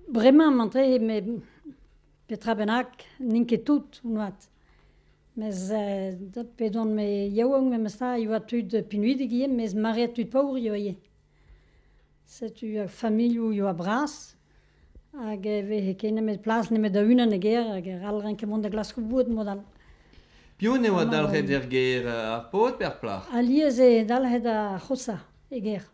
Bremañ emañ-tre met petra bennak n'int ket tout moarvat. Mes p'edon-me yaouank memestra e oa tud pinvidik ivez mes maread tud paour eo ivez. Setu ar familhoù eo bras hag e veze ket nemet plas nemet da unan e gêr hag e c'hall renket mont da glaskoù boued mod all. Piv en devoa dalc'het er gêr ar paotr pe ar plac'h? Alies eo dalc'het ar c'hoshañ e gêr.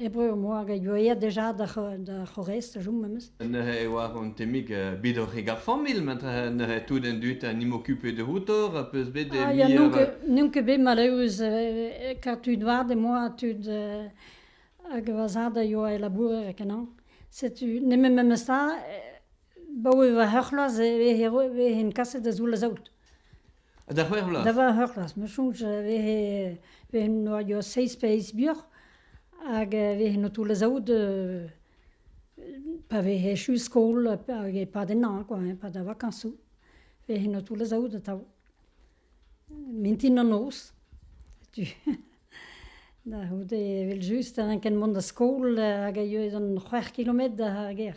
E breur am boa get gwelet deja d'ar c'horrez da chom memes. Neuze e oa an temik bet oc'h e gar familh met neuze tout an dud a 'n em ocupe outo a peus bet n'on ket bet maleus kat tud vat e moa tud hag va zad a yoa e labourer kenañ. Setu nemet memes ta, baoe va c'heur c'hloaz e vehen kaset da zoull a zaout. Ha da c'hwec'h vloaz? Da c'hwec'h vloaz. Ma soñj e vehe vehe noadio seizh pe eizh muioc'h hag e vehe o toull azaout pa vehe echu skol hag e-pad ennañ kwa, e-pad ar vakañsoù vehe o toull azaout atav. Mintin an noz, setu. Da c'houde evel-just, a ranken mont da skol hag a yoe d'an c'hwec'h kilometr da ar gêr.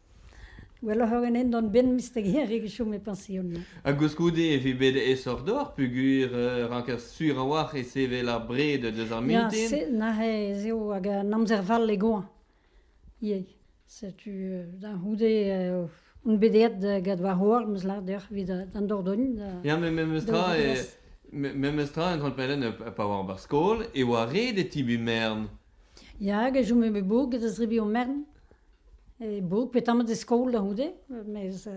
Gwelloc'h eo ganen dont benn misteg-hir rak e chom e pansion-mañ. Ha koulskoude e vi bet aesoc'h deoc'h peogwir e ranker sur a-walc'h e sevel ar bred deus ar Ya, mintin. se, neuze ez eo hag an amzer fall e goañv ivez. Setu euh, da c'houde euh, on bet aet gant va c'hoar, 'm eus lâret deoc'h, evit euh, d'an Dordogne. da- Ya, met memes tra, Da- e- me- memes tra, un grand pellenn euh, pa oar barzh skol, e oa ret e tibi mern. Ya, hag e chome bet bev get a zrebi o mern. Bo, petamant e skol a-c'houde mes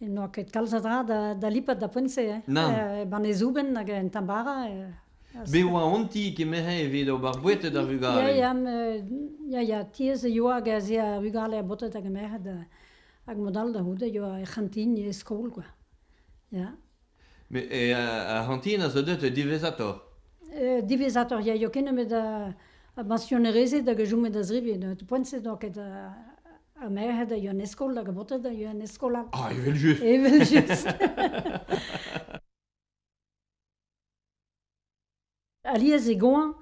n'oa ket kalz a dra da lipat da poent-se hein. Nann. Banne zouben hag un tamm bara Me a oa an ti kemeret evit ober boueted ar vugale. Ya, ya, ya, ya, tiez e yoa hag ez ea ar vugale a baotred hag a merc'hed hag mod all da-c'houde yoa er c'hantin e skol kwa, ya. Mais et, euh, ar c'hantina zo deuet diwezhatoc'h. E, diwezhatoc'h ya, eo ket nemet a, a bansionerezed hag a joumet a zrivien. Poent-se donc ket a, a merc'hed a ioa en eskol hag a botet a ioa en eskol all. Ah, evel-just! Evel-just! Alies e goañv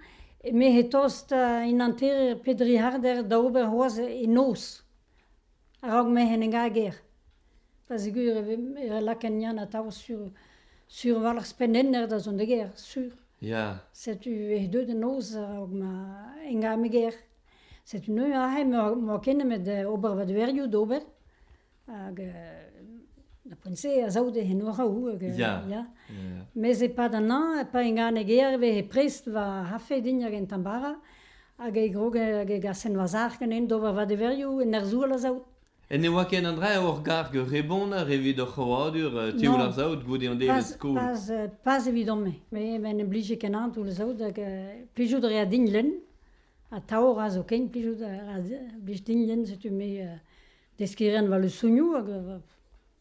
eme-se tost en hanterer Pedrihardder da ober c'hoazh e noz a-raok m'ec'h en ega er gêr. Da seguir e ve lakaet Yann atav sur sur walc'h pennenner da zont d'e gêr, sur. Ya. Setu eo aet deut en noz a-raok ma enga me gêr. Setu neuze aze m'emañ ken nemet ober va deverioù d'ober. Hag ar poent-se a sav d'he enoraoù. Hag, ya, ya. Mes e-pad an hañv, pa inganig Herve he prest va c'hafe din hag en tambara, hag e grog hag e gas en wazar ganin d'ober vadeverioù, en arzour a sav. En ne oa ken an dra ur garg rebonner evit hor c'hrouadur tioul ar saout goude an devezh skol. Pas evidon-me. Me en em blije kenañ toull saout hag plijout a rea din lenn. Ha taorañ zo ken plijout a blij din lenn, setu me Deskiñ a ran war lesanioù hag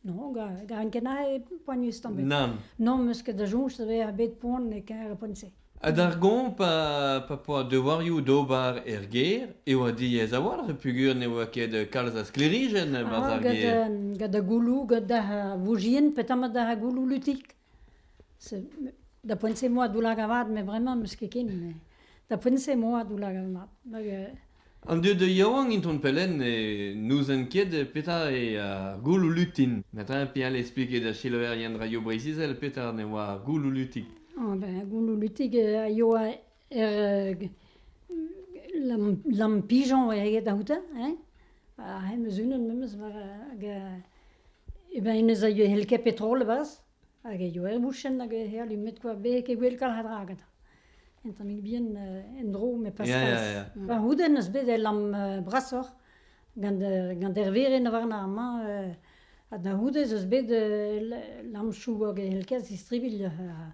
non, ga ran ket aze poanius tamm ebet. Nann. Non, 'm eus ket da soñj da vezañ bet poan e-keñver ar poent-se. Ha d'ar goañv pa poa devoarioù d'ober er gêr e oa diaes a-walc'h peogwir ne oa ket kalz a sklêrijenn barzh ar gêr. Gant da gouloù, gant da vouzien, petamant da gouloù lutik. Da poent-se emañ a-doull-hag avat met bremañ n'eus ket ken. Da poent-se emañ a-doull-hag avat. An dud yaouank intron Pelen n'ouzent ket petra eo ar gouloù-lutin. Ma ta pe all expliket da selaouerien Radio Breizh Izel petra ne oa ar gouloù-lutig. Ben gouloù-lutig a yoa Er lampijon oa aet aoutañ hein, ha hemañ unan memes war hag e bennes a yoe ket petrol e-barzh hag e yoe er bouchenn hag e alumet kwa beg e gwellkal a dra gantañ, un tammig bihan en-dro met pas kalz. Pa c'houdenn eus bet e lamm brasoc'h gant gant Erveren warna amañ ha da c'houde ez eus bet lamchoù hag e c'hell ket zistribilh ha.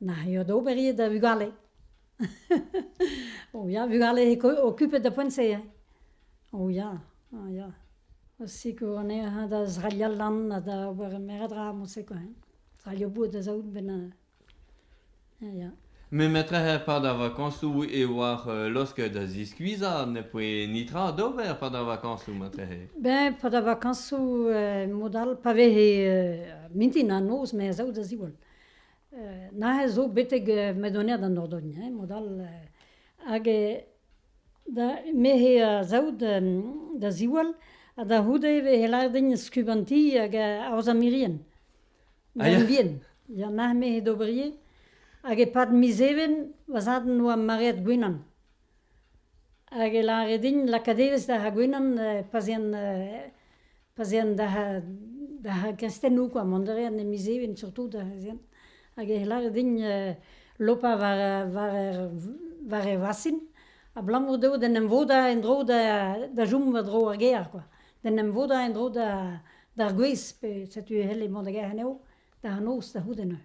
N'ac'h eo da ober ivez da vugale. O ya, vugale okupet da poent-se hein. O ya, o ya. Osiko anezhañ da zraliañ lan ha da ober meur a dra moseko hein. Zraliañ boud da zaout bennañ. Ya. Me metrehe pad ar vakañsoù e oar laosk da ziskuizhañ, ne poe netra d'ober pad ar vakañsoù matrehe. Ben pad ar vakañsoù mod all pa vehe mintin ha noz me a zaou da ziwall. Neuze zo betek Maedoned an Nordogn hein, mod all hag da me he saout da ziwall ha da c'houde e vez lâret din skubantiñ hag aozañ mirien ma mibien. Ya neuze me he d'ober ivez hag e-pad miz even va zad en doa maread gwenan. Hag e lâre din lakaat evezh da c'hagwenan pa'z ean pa'z ean d'ar gristennoù kwa, mont a rean e miz Even surtout ez ean. Hag e lâre din lopañ war war e vasin abalamour dezho d'en em vodañ en-dro da chom war-dro ar gêr kwa, d'en em vodañ en-dro d'ar gwez pe setu e c'helle mont da gêr anezho da noz da c'houde neuze.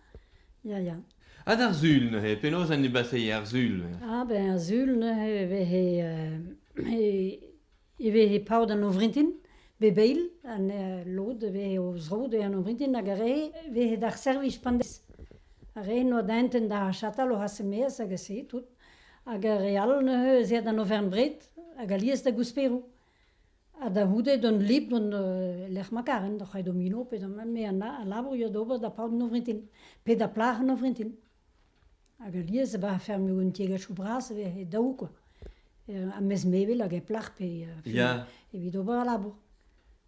Ya, ya. Ha d'ar sul neuze, penaos en deus basseillet ar sul? Ah ben ar sul neuze e vehe euh, e, e vehe paot an ouvrintin, be beil, an euh, lod vehe o zro de an ouvrintin hag ar re vehe d'ar servij pandez. Ar re noa denten d'ar chatal o hasemeas hag a se tout. Hag ar re all neuze ez ea d'an Auvergne-Bred hag alies da Gousperou. Ha da c'houde d'an libr an lec'h ma karen doc'h aet domino pe da mat me a labour eo d'ober da paot an ovrintin pe da plac'h an ovrintin. Hag alies e bar afer me un tiegezhioù bras e vez daou kwa, ha mes mevel hag e plac'h pe... Ya. Evit ober al labour.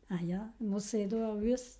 Ha ya, mod-se edo ar vuhez.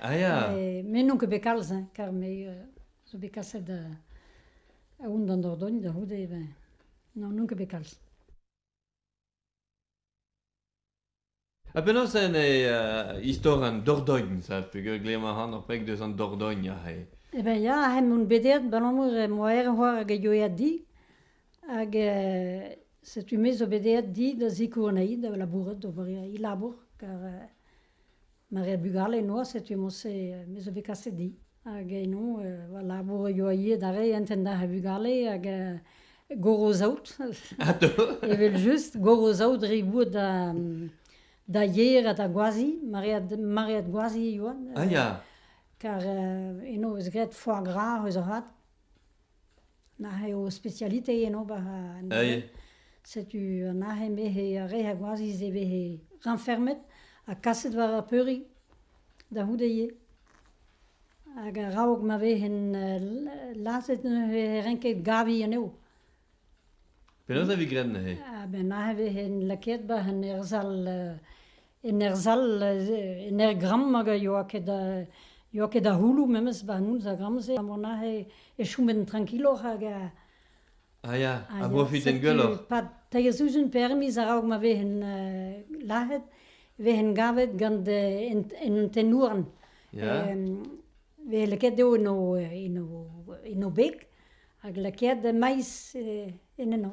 Ah ya. Me n'on ket bet kalz, hein, kar me euh, zo bet kaset euh, aoun d'an Dordogn da c'houde ben. Non, n'on ket bet kalz. Ha penaos en e uh, istor an Dordogn, ça pegeurglem a ran ur pek deus an Dordogn ahe. Eh ben ya, hen on bedert balamour eh, moa er c'hoar hag e yoeat di, hag eh, setu me zo bedert di da zikour anai, da labourat, d'ober i labour, kar Mar eo bugale noazh setu emañ-se me zo bet kaset di hag eno va labour a yoa ivez d'ar re entañ ar vugale hag gorozaout evel-just gorozaout re boud da da yer ha da gwazi maread maread gwazi e yoa. Kar eno 'eus graet foar gra eus avat. Nac'h eo spesialite en ober anezhe. Setu nac'h eo bet he re a goazhiz eo bet he rañfermet ha kaset war ar peuriñ da c'houde ivez. Hag a-raok ma vehen lazhet neuze e renke gaviñ anezho. Penaos a vez graet neuze? A-benn nac'h e vehen lakaet 'ba un erzhall En ur sal, en ur gramm hag a yoa ket da yoa ket da c'houloù memes ba noz ar gramm-se, ha mont aze e chomen trankiloc'h hag a... Ah ya, a brofiten gwelloc'h. Setu 'pad teir sizhun permiz a-raok ma vehen lazhet, vehen gavet gant en tenn-houarn. Ya. Vez lakaet eo en o en o en o beg hag lakaet maiz en enno.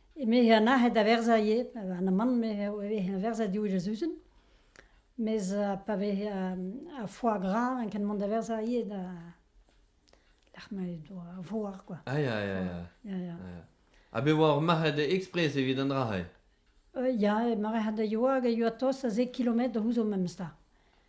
Eme an nac'het da verzañ ivez, an amann e vez verzet diouzh ar sizhun. Mes pa vez ar foie gras int ket mont da verzañ ivez da lec'h ma a voar kwa. Ah ya ya ya. Ya ya. Ha bet oa ur marc'had ekspres evit an dra-se? Ya, marc'had a yoa hag a yoa tost a zek kilometr da c'houzout memes 'ta.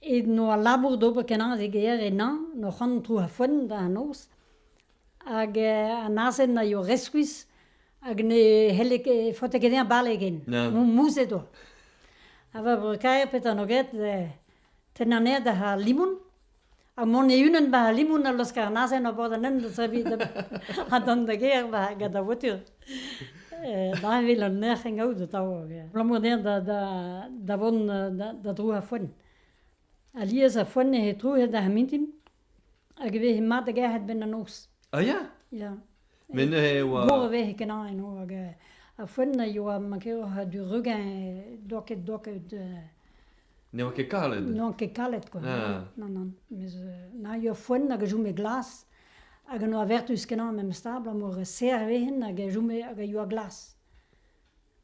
Evit noz al labour d'ober kenañ e gêr ennañ n'hor c'han tro ar foenn da an noz hag an azen a eo reskuizh hag ne c'helle ket faotañ ket dezhañ bale ken mouzhet oa. Ha war breukaer petra 'noa graet tennañ anezhañ da c'har limon. Ha mont e-unan ba Limoun a laosk an azen ober an hent da serviñ ha dont da gêr ba gant ar voitur. Dañvel an nec'h en gaout atav. Abalamour dezhañ da, da, da vont da, da dro ar foenn. Alies ar foenn he trouc'het ar mintin hag e veze mat da gerc'hat 'benn an noz. A ya? Ya. Mais neuze e oa... Mor a vez kenañ eno hag a foenn a yoa mankeoc'h du regain doket doket... Ne oa ket kalet? Ne oa ket kalet quoi. Ah. Non, non. Mes na yoa foenn hag a joume glas hag a noa vertuz kenañ memes stabl ha mor a serr vehin hag a joume hag a yoa glas.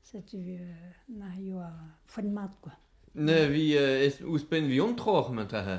Setu na yoa foenn mat quoi. Ne vi ouzhpenn vi on troc'h 'mañ ta-ha?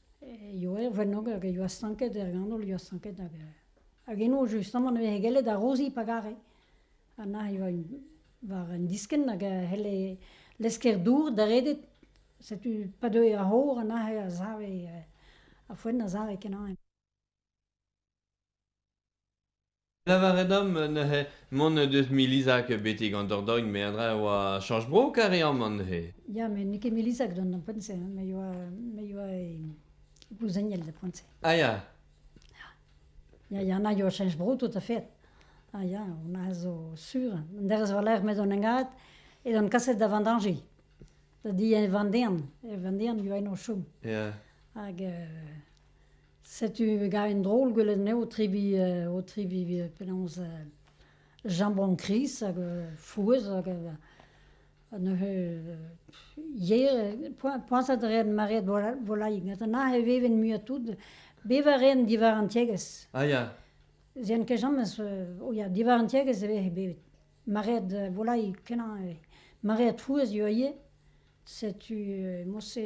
Ioe vennog hag a ioa stanket er ganol, a ioa stanket hag hag eno justamant e veze gellet arozi pa gare. Ha na ioa un war un diskenn hag a c'helle lesker dour da redet. Setu pa deue ar c'hor ha neuze a save, ar foenn a save kenañ. Lavaret omp neuze mont deus Milizag betek an Dordogne meandra e oa chañs-bro kareañ neuze. Ya, met n'eo ket Milizag d'an poent-se, hein, me yoa me yoa e gouzeniel da poent-se. Ah ya, Ya, ya, na yoa chañs-bro tout a fait. Ah ya, on a zo sur. An derez war-lerc'h met on engaet edan kaset da Vendange. Da di e Vendern. E Vendern yoa en o chom. ya, hag euh, Setu gav en drol gwelet anezho o tebriñ o tebriñ penaos jambon kriz hag frouezh hag neuze yer poazhat a reent maread volailh gant an aze e veven muiañ-tout bevañ a reent diwar an tiegezh. Ah ya. Ez int ket james oh ya diwar an tiegezh e vez bevet maread volailh kenañ maread frouezh ivez setu mod-se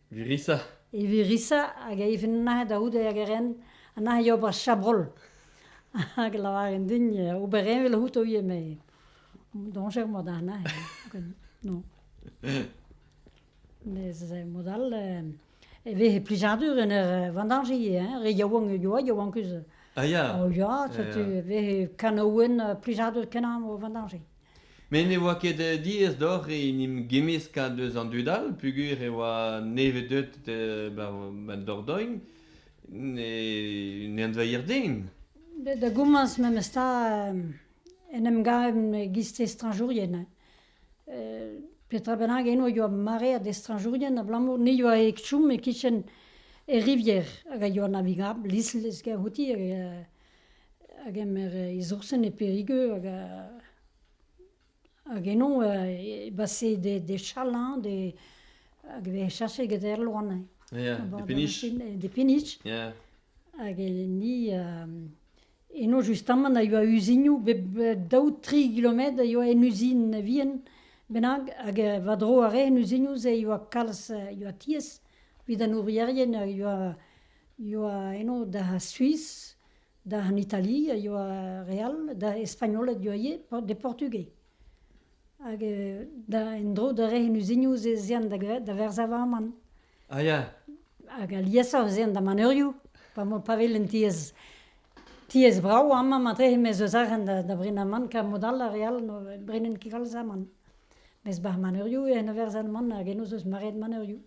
Virissa. E Virissa hag a ifen nac'h da oude hag a ren a nac'h e ober chabrol. Hag lavaren din ober envel outo ivez, mais doñjer mod ar nac'h. Non. Mes mod all e vez plijadur en ur vendañjiñ ivez, re yaouank e yoa, yaouankus. Ah ya. O ya, setu e vez kanaouenn plijadur kenañ o vendañjiñ. Met ne oa ket eh, diaes deoc'h en em gemmeskañ deus an dud all peogwir e oa nevez-deuet eh, ba ba Dordogne ne ne anveier den. Bet da gomañs memestra euh, en em gavet giz estrañjourien. hein. Euh, petra bennak eno a yoa maread estrañjourien abalamour ne yoa ket chom e-kichen e rivière hag a yoa navigabl, lisl ez gavouti hag euh, a gemer e zoursen e Perigeux hag hag eno e basse des chalains des hag e vez chaset get er loan hein. Ya, des peniches. Des peniches. Ya. Hag ni eno justamant a yoa uzinioù bep daou tri kilometr a yoa en uzin vihan bennak hag war-dro a rae en uzinioù-se yoa kalz yoa tiez evit an ourierien hag yoa ioa eno da Suis, d'an Itali a ioa re all, da Espagnoled ioa ivez, de Portugais. Hag da en-dro da re en uziniou ez eant da verzavamant. Ah ya. Hag aliesoc'h ez eant da maneuriou, pa velen tiez tiez brao amañ matre, mes eus arc'hant da brinamant, kar mod all a re all ne brenen ket kalz amann. Mes barzh maneuriou eo en o verzalmant hag eno 'z eus maread maneuriou.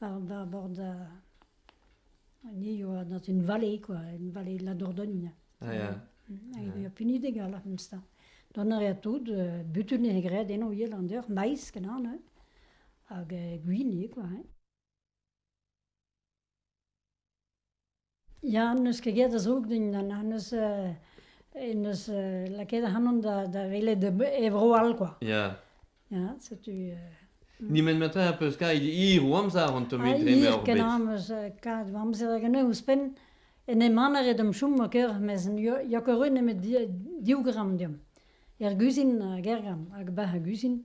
war bord an hiziv avat in vallée quoi, in vallée de la Dordogne. Ah ja. Hag e punidik alc'h mista. Dont a rea tout, butun e gred en o Irlander, maiz kenan, hag gwini quoi. Ya, n'eus ket get a zoug din, n'eus neus lakaet ac'hanon da welet e vro all kwa. Ya. Ya, setu... Nemet ma 'ta peus kavet hir o amzer an tomig dre ma oc'h bet. Hir kenañ 'm eus kavet va amzer hag anezhi ouzhpenn. En em anaret d'am chom ma kêr, mes n'eo ket re nemet div gramm deomp. Er guzhin hag er gamm, hag 'ba ar guzhin.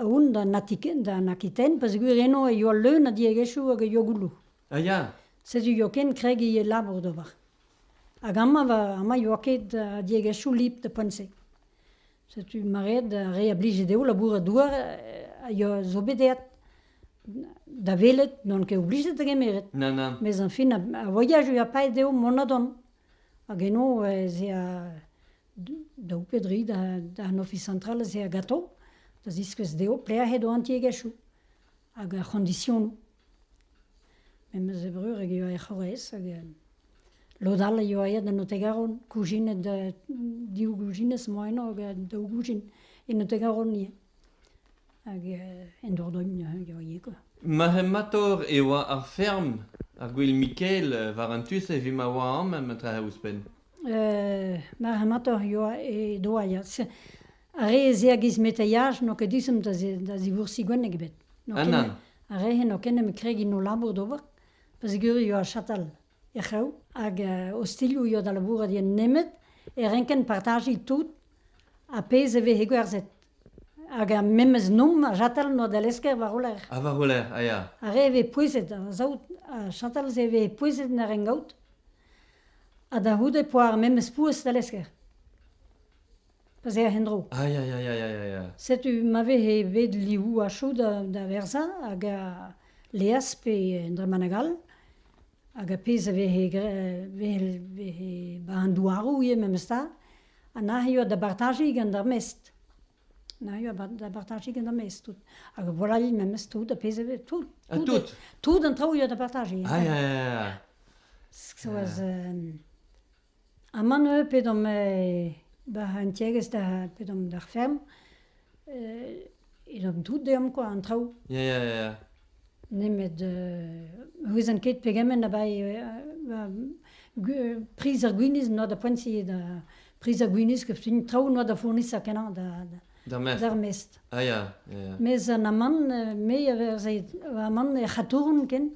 Aon d'an Atiken, d'an Akiten, peogwir eno e yoa leun a diegezhioù hag e yoa gouloù. Ah ya. Setu yoken kregiñ e labour d'ober. Hag amañ va, amañ yoa ket uh, diegezhioù lip da poent-se. Setu mareet ar re a blije dezho labourat douar a yoa zo bet aet da welet n'on ket oblijet da gemeret. Nann, nann. Mes añfin a voyage a paeet dezho mont-ha-dont. Hag eno ez ea daou pe dri d'an Ofis Central aze a-gato da ziskouez dezho pelec'h eo an tiegezhioù hag ar c'hondisionoù. Memes e Brureg e oa er C'horrez hag lod all a yoa aet en Otegaron, koujinet div goujinez moa eno hag daou goujin en Otegaron ivez. Hag en Dordogne e oa ivez quoi. Marc'hemator e oa ar ferm, ar gwel Mikel, war an tu-se evit ma oa amañ, ma trae ouzhpenn. Mar amator eo e doaiad. Ar re-se a giz meteiaj n'eo ket disum da zivoursiñ gwenneg ebet. N'eo ket- Ah, Ar re-se n'eo ket nemet kregiñ o labour d'ober, pa zigeriio ar chatal er c'hrev hag ostilhoù eo da labourat eo nemet e renkent partajiñ tout ar pezh e veze gwerzhet. Hag ar memes noum ar chatal n'oa da lesker war o lerc'h. ah, war o lerc'h, a ya. Ar re a vez pouezet, a-sav, ar chatal-se a veze pouezet en ar rengaout. Ha da c'houde poa ar memes pouez da lesker. Pa zec'h en-dro. Ah, ya, ya, ya, ya, ya. Setu ma vehe bet liv a chou da, da verzañ hag a leas pe en dremaneg all. Hag a pezh a vehe, gra- vehe, vehe ba an douaroù ivez memes ta. Ha nac'h eo da bartajiñ gant ar mestr. Na eo da bartajiñ ganeomp ez tout hag a volailh memes tout ar pezh eo tout. Tout tout an traoù eo da bartajiñ. Ah ya ya. Soaz amann eu pedomp war an tiegezh da pedomp d'ar ferm e domp tout deomp kwa an traoù. Ya ya ya. Nemet ne ouezan ket pegement a bae priz ar gwinizh n'oa da poent-se da priz ar gwinizh ket fin traoù n'oa da fournisañ kenañ d'ar mestr. Ah ya, ya ya. Mes an amann me a verzhe amann er c'hatourn ken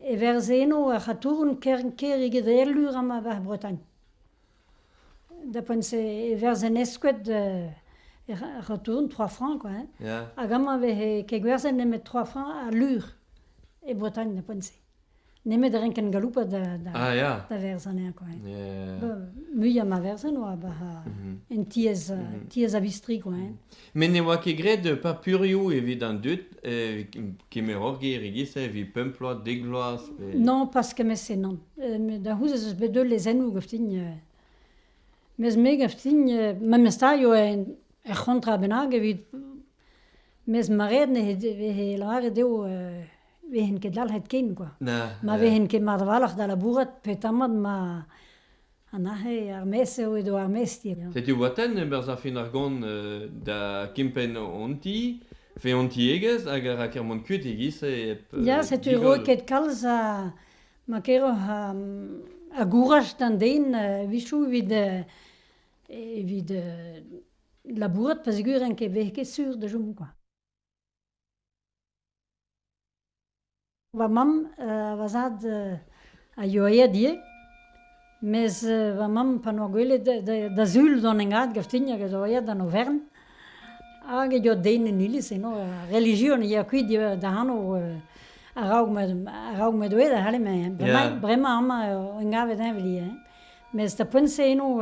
e verzhe eno ar c'hatourn ker eget Erlur ha ma vac'h Bretagne. Da poent se e verzh en eskod er ratourn trois francs quoi hein. Hag amañ e veze kegwerzhet nemet trois francs ha lur e Bretagne da poent se. Nemet renken galoupat da da da verz anezhañ quoi hein. Muiañ ma verzen oa bah en tiez tiez a vistri quoi hein. Met ne oa ket graet papurioù evit an dud eh, kemer ur ger e-giz-se evit pemp bloaz, dek bloaz. pe- Non, pas kement-se, non. Euh, met Da c'houzez eus bet deul lezennoù gaftin. euh. Mes me gaftin, euh, memes ta eo en er c'hontra bennak evit... Mes maret ne he lavaret eo euh, vehen ket dalc'het ken, quoi. Na, Ma na. vehen ket mat avalc'h da labourat petamant ma Ha neuze ar mezh eo edo ar mezhti. Setu Watenn e-barzh ar fin argant da kempenn hon ti, fe hon tiegezh hag a ra kermont kuit e-giz-se hep... Ya, setu roket kalz a... ma keroc'h a gouraj d'an den evichoù evit, evit labourat pa zigouren ket vez ket sur da chom kwa. Va mamm, va zad, a yoa aet ivez, mes va mamm pa noa gwelet da zul d'an engad gaftin hag a zo aet d'an Aovern hag e yoa den en iliz eno, ar relijion a yoa kuit da anv a-raok ma m'edo aet a c'halle bremañ amañ eo engavet heñ veli heñ, mes d'ar poent-se eno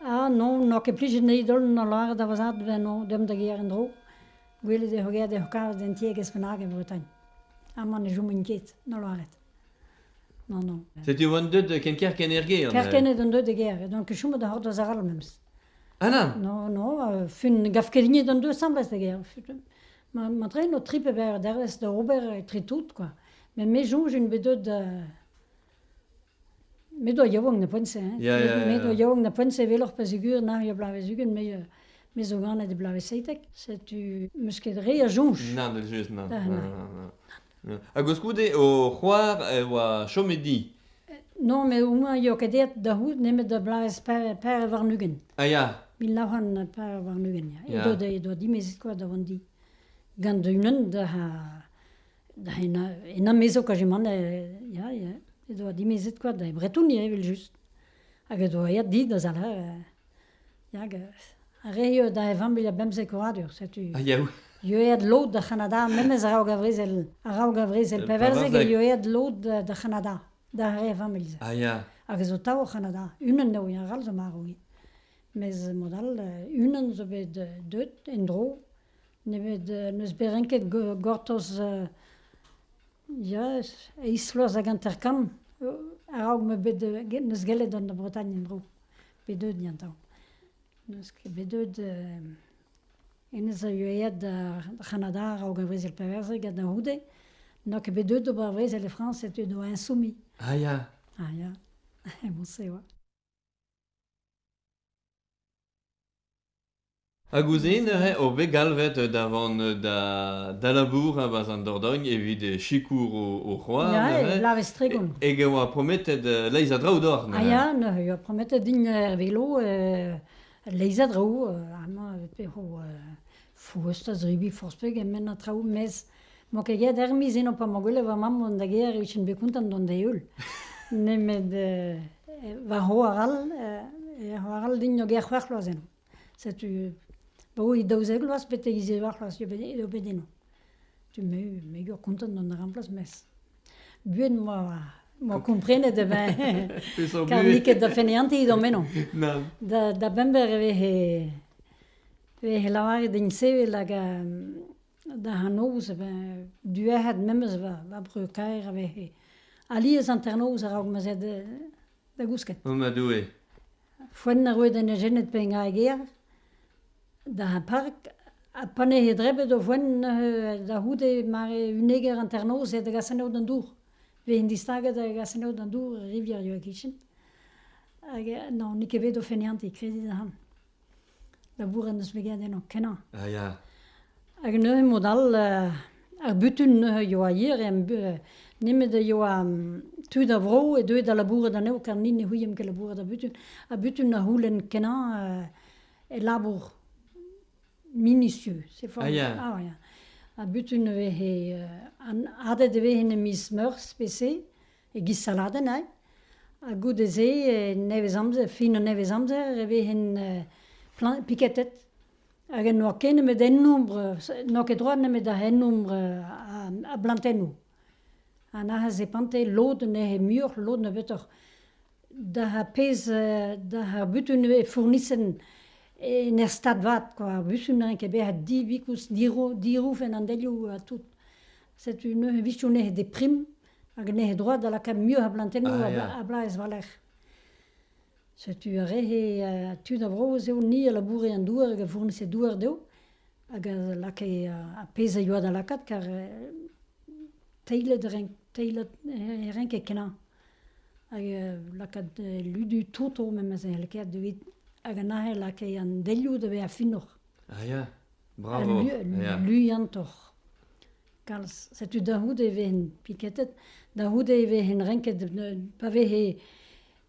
ah non, n'oa ket plijet anezhi dont da lâret da va zad eno deomp da gêr en-dro. Gwelet ec'h eo ec'h kavet un tiegezh bennak e Bretagne. Amañ ne chomin ket, na lâret. Non, non. Setu on deuet ken kerkent er gêr. Kerkent on deuet e gêr, donc chomit a-c'hortoz arall memes. Ah non Non, non, euh, fun, gav ket din on deuet asambles e gêr. Ma trein o tri pe berr dervezh da ober etre tout, quoi. Met me soñj int bet deuet... Euh, Me doa yaouank na poent-se hein, me doa yaouank na poent-se eveloc'h pa zigur nac'h er bloavezh-ugent me me zo ganet e bloavezh seitek, setu meus ket re a soñj. Nann, evel-just, nann, nann, ha goulskoude o c'hoar e oa chom e di? Non, met au moins eo ket aet da c'hoût nemet da bloavezh pere warn-ugent. Ah ya? Mil nav c'hant pere warn-ugent ya, edo dimezet kwa da vont di. Gant unan da Da enamezok a zimant ya ya he doa dimezet koa da Bretouni evel-just hag he doa aet dit da zale hag a ree da e vamm e bemzek oadur setu ieet lod da C'hanada memes araok ar vrezel araok ar vrezel pevarzek e ieet lod da C'hanada da re vamm elze hag a zo tav o C'hanada unan eo arall zo marv eo mes mod all unan zo bet deut en-dro Nemet n'eus bet renket gortoz ya eizhvloaz hag hanter-kant a-raok m'eo bet neus gellet an Bretagne en-dro bet deuet ya atav. N'eus ket bet deuet hennezh a yoa aet d'ar C'hanada a-raok ar brezel perverzek ha da c'houde n'oa ket bet deuet d'ober ar brezel e Frañs etre d'o insoumis. Ah ya! Ah ya, mouse oa. Hag ouzhin neuze eo bet galvet da vont da labourañ 'barzh an Dordogne evit sikour o c'hoar Ya, neuze. e Lavez-Tregont. Hag e oa prometet leizh a draoù doc'h neuze. Ah ya, neuze e oa prometet din er velo leizh a draoù. Amañ e vezo foust a zebriñ forzh pegement a traoù, mes Emañ ket get er miz eno pa 'mañ gwelet va mamm mont da gêr e vijen bet kontant dont da-heul. Nemet va c'hoar all, he c'hoar all din eo gêr c'hwec'h vloaz eno. Setu baoe daouzek vloaz betek ziwec'h vloaz eo bet eo bet eno. Megaur kontant dont a ran plas mes buan 'moa komprenet e beñ kar n'it ket da feneantiñ da'm meno. Da bember e vehe e vehe lavaret din sevel hag Da hanternoz e vez duec'het memes va breur-kaer a vez alies hanternoz a-raok ma'z eo da gousket. O ma Doue! Foenn a roe d'an ejened pellañ e gêr, d'ar park, ha pa ne eo drebet o foenn da c'houde mare uneger hanternoz eo da gas anezho d'an dour. Vez int distaget da gas anezho d'an dour er rivière, e-kichen. Hag non, n'eo ket bet o feniantiñ, kredit ac'han. labourat en deus bet graet eno kenañ. Ah ya. Hag neuze mod all euh, ar butun neuze yoa hier em nemet a yoa tud a vro e deuet da labourat anezho kar ni ne c'houiem ket labourat a butun. A butun a c'houlenn kenañ euh, e labour minutieux. C'est fort. Ah ya. Ah ya. A butun e vez he, euh, an- adet e vez en e miz Meurzh pe se. e-giz saladenn all. Ha goude-se, nevez-amzer, fin an nevez-amzer, e vehen piketet. Hag n'oa ket nemet hennombre, n'oa ket droit nemet da hennombre a blantennoù. Ha nac'h e pante lod neuze muioc'h, lod nebeutoc'h. D'ar pezh, d'ar butun e fournissen en ur stad vat, kwa. Ar butun n'en ket bet ha divikoulz dirouf en an delioù ha tout. Setu neuze vije neuze de prim hag neuze droad da lakaat muioc'h a blantennoù ah, a a blas war-lerc'h. Setu ar re tud a Vro-Vez eo ni a laboure en douar hag a fournise douar dezho hag a lakae ar pezh a yoa da lakaat kar teilet renk teilet renket kenañ hag lakaat ludu toto memes e lakaet evit hag anezhe lakae an delioù da vezañ finoc'h. Ah ya? Bravo! Luiantoc'h. Kalz. Setu da c'houde e vehen piketet, da c'houde e vehen renket pa vehe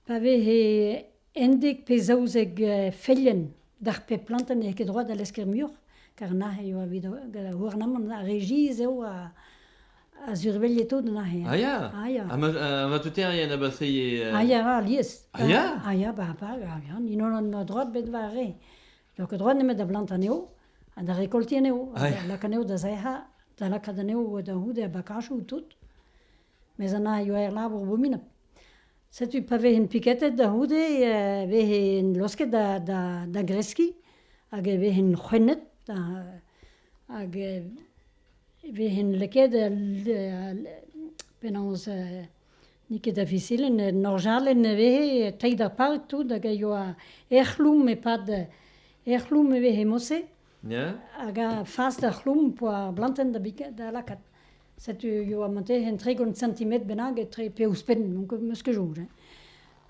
pa vehe undek pe zaouzek feilhenn d'ar pep plantenn n'eo ket droit da lesker muioc'h, kar neuze eo evit ar gouarnamant ar regiz eo a a surveilhe tout neuze. Ah ya? Ah ya. Ha matoterien a baseie... Ah ya, alies. Ah ya? Ah ya, ba, ba, ya, ya, n'int holan ma droad bet war re. N'eo ket droa nemet da blant anezho ha da rekolti anezho, ha da lak anezho da zae'hañ, da lakaat anezho da c'houde a bakachoù tout. Mes an a ioa er labour bominap. Setu pa vehen piketet da c'houde, e vehen losket da, da, da greskiñ, hag e vehen c'hwennet, hag e vehen lakaet penaos N'eo ket avizelenn, un orjalenn e vehe treid ar pal tout hag a yoa er c'hloum e-pad er c'hloum e vehe mod-se Ya. hag a fas d'ar c'hloum po ar blantenn da bikat da lakaat. Setu yoa mantezenn tregont sentimetr bennak etre pe ouzhpenn, meus ket soñj hein.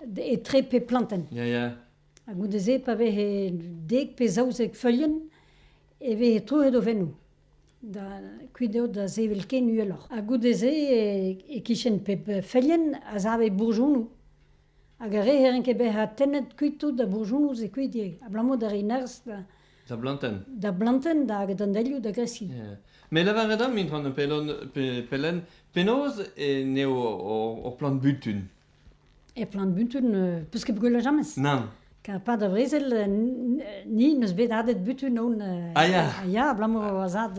D- etre pe plantenn. Ya, ya. Ha goude-se pa vehe dek pe zaouzek feulien e vehe troet o fennoù. Da kuit eo da sevel ken uheloc'h ha goude-se e-kichen pep feilhenn a save bourjonoù hag ar re ne ran ket bezañ tennet kuit tout da bourjonoù se kuit ivez abalamour da reiñ nerzh da Da blantenn. da blantenn hag d'an delioù da greskiñ. Yeah. Me lavaret deomp, Intron Pelen, pe- Pelen, penaos eh, n'eo hor, hor plant butun? E Plantbutun, peus ket gwellet jamez? Nann. Pad a vrezel, ni neus bet adet butun on. Ah ya? Ya, abalamour a zad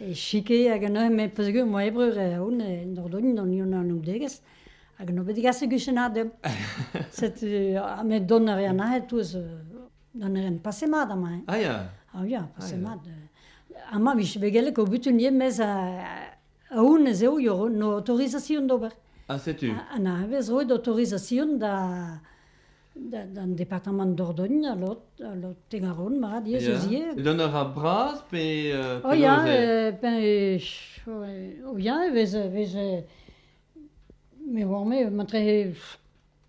e chike hag an eur, met peus gwir, moa e breur on, en Dordogne, an Union Anoudegez, hag no bet digas e guchenad deomp. Setu, met don a rea nahet touz, don a ren pase mat amañ. Ah ya? Ah ya, pase mat. Amañ vije bet gellet ko butun ien, mes Honnezh eo eo an aotorizasion d'ober. Ha setu. An hañvezh roet aotorizasion da d'an departamant Dordogne ha lot lot Tegaron mat yezh eus ivez. Dont a ra bras pe oh ya oh ya e vez e vez me oar-me matre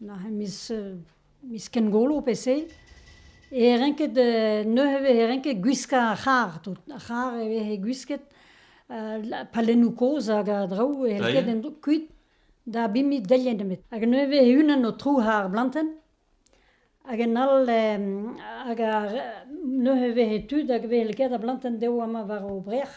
Neuze miz miz kengolo pe se e renket neuze e vehe renket gwiskañ ar c'harr tout. Ar c'harr e vehe gwisket palennoù kozh hag a draoù helket en-dro kuit da biniñ deliet nemet. Hag neuze e vehe unan o trouc'hañ ar blantenn hag en all hag ar neuze e vehe tud hag e vehe lakaet ar blantenn dezho amañ war o brec'h.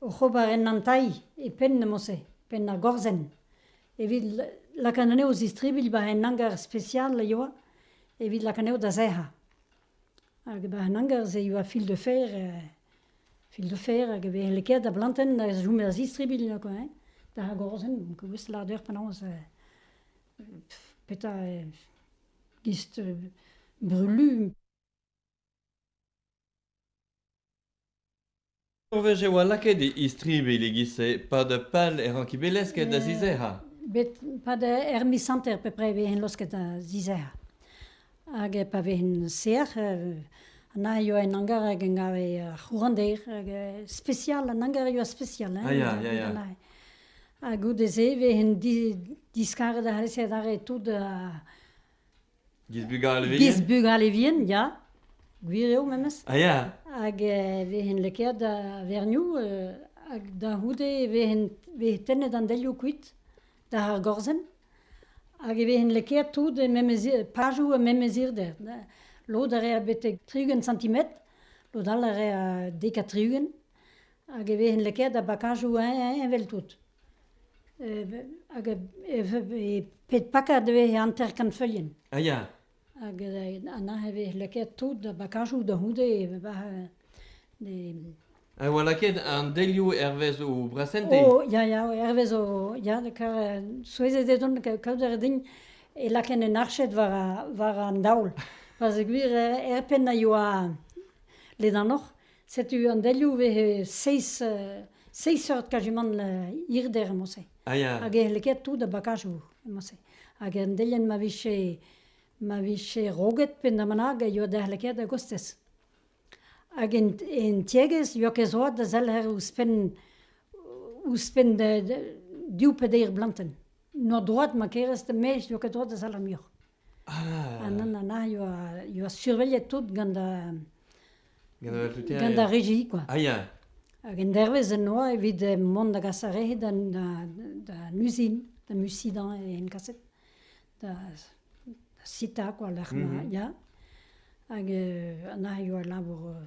oc'h ober en antailh e penn neuze, penn ar gorzenn, evit lakaat anezho zistribilh war un hangar spesial a yoa evit lakaat anezho da sec'hañ. Hag war an hangar-se e oa fil de fer, fil de fer hag e veze lakaet da blantenn da chom er zistribilh quoi hein, d'ar gorzenn. Donc gouest lâret eur penaos petra gist brulu. Ur wech e oa lakaet e istribilh e-giz-se pad pal er rankibelezhted da zizec'hañ. Bet pad er miz hanter pe prez vez losket da zizec'hañ. Hag pa vez sec'h, an aio en hangar hag en gave ar c'hourannder, hag spesial, an hangar a yoa spesial. Ah ya, ya, ya. Ha goude-se e vez diskaret a c'hellfe adarre tout Gizbugalevien. Gizbugalevien, ya. Gwir eo memes. Ah ya. Hag e vehen lakaet da verniou, euh, hag da c'houde e vehen vez tennet an delioù kuit da ar gorzenn. Hag e vehen lakaet tout e memes pajou e memes irder. Lod a rea betek tri-ugent centimetr, lod all a rea dek ha tri-ugent. Hag e vehen lakaet da bakajou heñ-heñ evel tout. hag pet pakad e vez hanter kanfeuilhenn. Ah ya. Hag anezhañ e vez lakaet tout da bakajoù da c'houde e vez e oa lakaet an delioù hervez o brasente. O ya ya hervez o ya souezhet eo don kaout a ra din e laken un arched war an daol. Parce que gwir er penn a yoa ledanoc'h Setu an delioù vez seizh seurt kajimant hirder emañ-se. Ah ya. Hag e c'helle ket tout da bakajoù emañ-se. Hag an delienn ma vije ma vije roget pe na manag e yoa da c'helle ket a-gostez. Hag en tiegezh yoa ket zoad da zelc'her ouzhpenn ouzhpenn div pe deir blantenn. Noa droad ma kerez da maez yoa ket droad da zellañ muioc'h. Ah! An anna ioa, ioa surveillet tout gant da, gant ar regi quoi. Ah ia. Hag en dervez en oa evit mont da gas ar re d'an uzin, da Mussidan en kaset, da sita quoi lec'h ma, ia. Hag anna ioa labour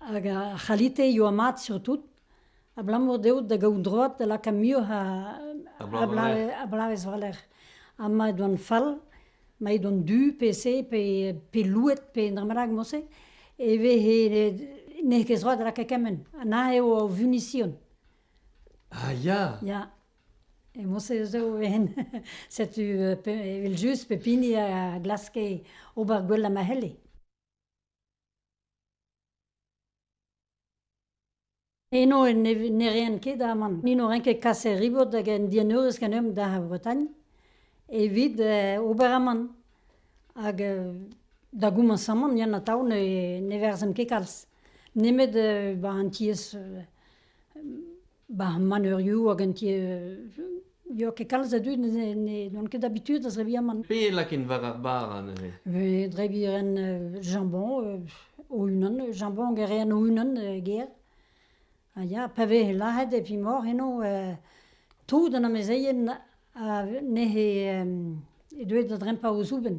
Hag ar c'halite eo mat surtout abalamour dezho da gaout droad da lakaat muioc'h a bloavezh war-lerc'h. Ha ma ed oant fall, ma ed oant du pe se pe louet pe un dra bennak mod-se, e vehe n'eo ket droad da lakaat kement. Anezhañ eo o vunision. Ah ya! Ya. E mod-se zo ken. Setu evel-just pep hini a glaske ober gwell ha ma c'helle. Eno ne ne ren ket aman. Ni n'o ren ket kas er ribot hag en dieneurez ganeomp da Vretagne evit ober aman. Hag da goumans aman Yann Atao ne ne verzemp ket kalz. Nemet ba an tiez Ba maneurioù hag an ti veo ket kalz a dud n'on ket habitud da zebriñ amann. Pe e laken war ar bara neuze? Vez drebiñ a ren jambon o-unan, jambon a rean o-unan ger. Ha ya, pa vez lazhet e fimor eno tout an amezeien n'he deuet da drempañ o zoubenn.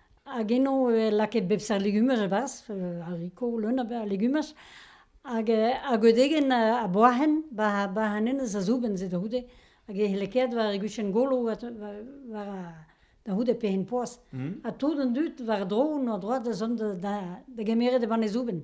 Hag eno e lakaet bep seurt legumaj e-barzh, haricot, leun a berzh legumaj. Hag ar godegenn a boahen war an enez a zoubenn-se da c'houde. Hag e c'hellekaet war e guchenn-golo da c'houde pegen poazh. Ha tout an dud war-dro, en o droad, a zont da gemeret e banne zoubenn.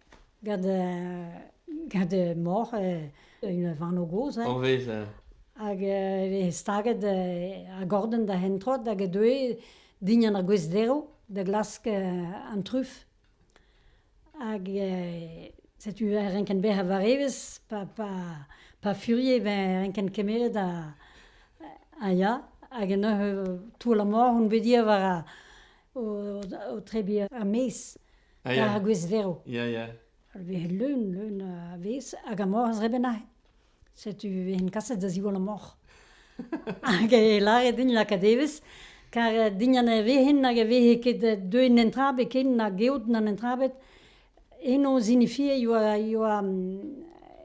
Gant gant mor un vanv gozh hein. O vezañ. Hag eo staget ar gordenn da hentrot hag e deue dindan ar gwez-derv da glask an truf. Hag setu e renken bezañ war evezh pa pa pa furie beñ renken kemeret a ya. Hag neuze toull ar mor on bet ivez war o o trebiñ er-maez. Ar gwez-verv. Ya, ya. Vez leun, leun a vez, hag amor az reben aze. Setu ven kaset da ziwall amor. Hag e lâret din lakaat evezh, kar din an evezhin hag e veze ket deuet an entrabet ken na geot na entrabet, eno zinifie yoa, yoa,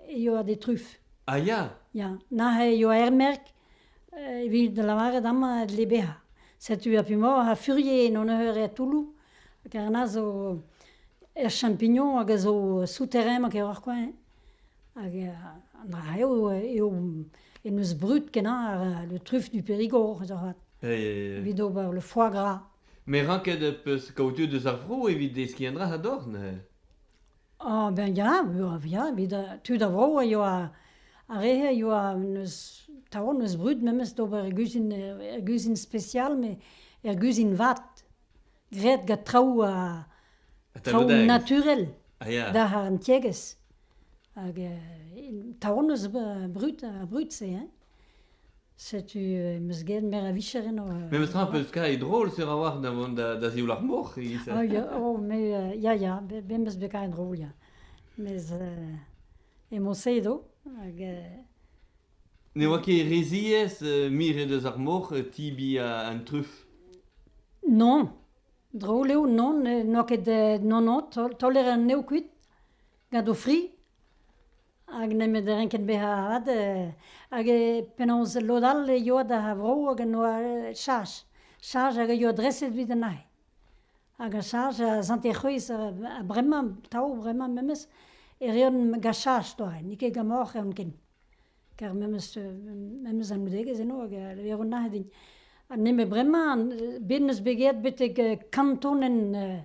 yoa de truf. Ah ya? Ya, nahe yoa ermerk, evit lavaret amañ e dle bezañ. Setu ar p'emaoc'h a furie en honneur er toulloù, ker na zo er champignon hag a zo souterrain ma keroc'h koa eñ. Hag an dra eo eo en deus brud-kenañ le truffe du Périgord avat, evit ober le foie gras. Met ranket 'peus kaout tu deus ar vro evit deskiñ un dra a-dor neuze. Ah ben ya, ya, evit tud a vro a yoa ar re-se a yoa n'eus taol n'eus brud memes d'ober er guzhin er guzhin spesial met er guzhin vat, graet gant traoù traoù naturel d'ar an tiegezh hag taol n'eus brud ar brud-se hein. Setu, em eus get meur a vicher eno. Memestra, peuzka e drol sur a-walc'h da vont da, da zioul ar mor. Ah, ya, oh, mais, euh, ya, ya, me eus bet karet drol, ya. Mes, euh, e Montse edo, hag... euh, Ne oa ket re ziaes euh, miret eus ar mor euh, tibi a- an truf. Non, drol eo, non, n'eo ket, euh, non, non, tol- taoler an nev kuit, gant o fri, Hag nemet e renken bezañ avat hag penaos lod all e yoa d'ar vro hag en doa cheñch. Cheñch hag a yoa dreset evit an aze. Hag a cheñch a sante-c'hwezh bremañ, atav bremañ memes, e reont gant cheñch doare. N'eo ket gant moc'h reont ken. Kar memes memes anaoudegezh eno hag a levont aze din. Ha nemet bremañ, bet 'neus bet graet betek kant tonenn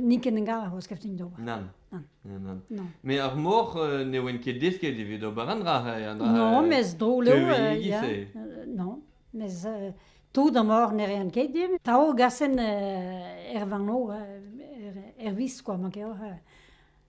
Ni ken gar o skeftin d'ober. Nan. Nan. Nan. Non. Mais ar mor euh, ne oen ket desket evit ober un dra. Non, mes drol eo. Non, mes tout an mor ne rean ket dim. Tao gasen er vano, er vis, quoi, manke or.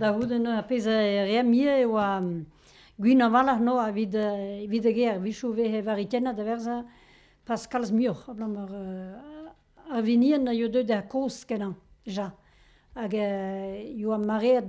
Da c'houde neuze ar pezh a reemp ivez e oa gwin a-walc'h noz evit evit e gêr, a-wechoù e veze varitennet a-werzhañ pas kalz muioc'h abalamour ar vinien a yoa deuet er kozh kenañ deja hag yoa mareet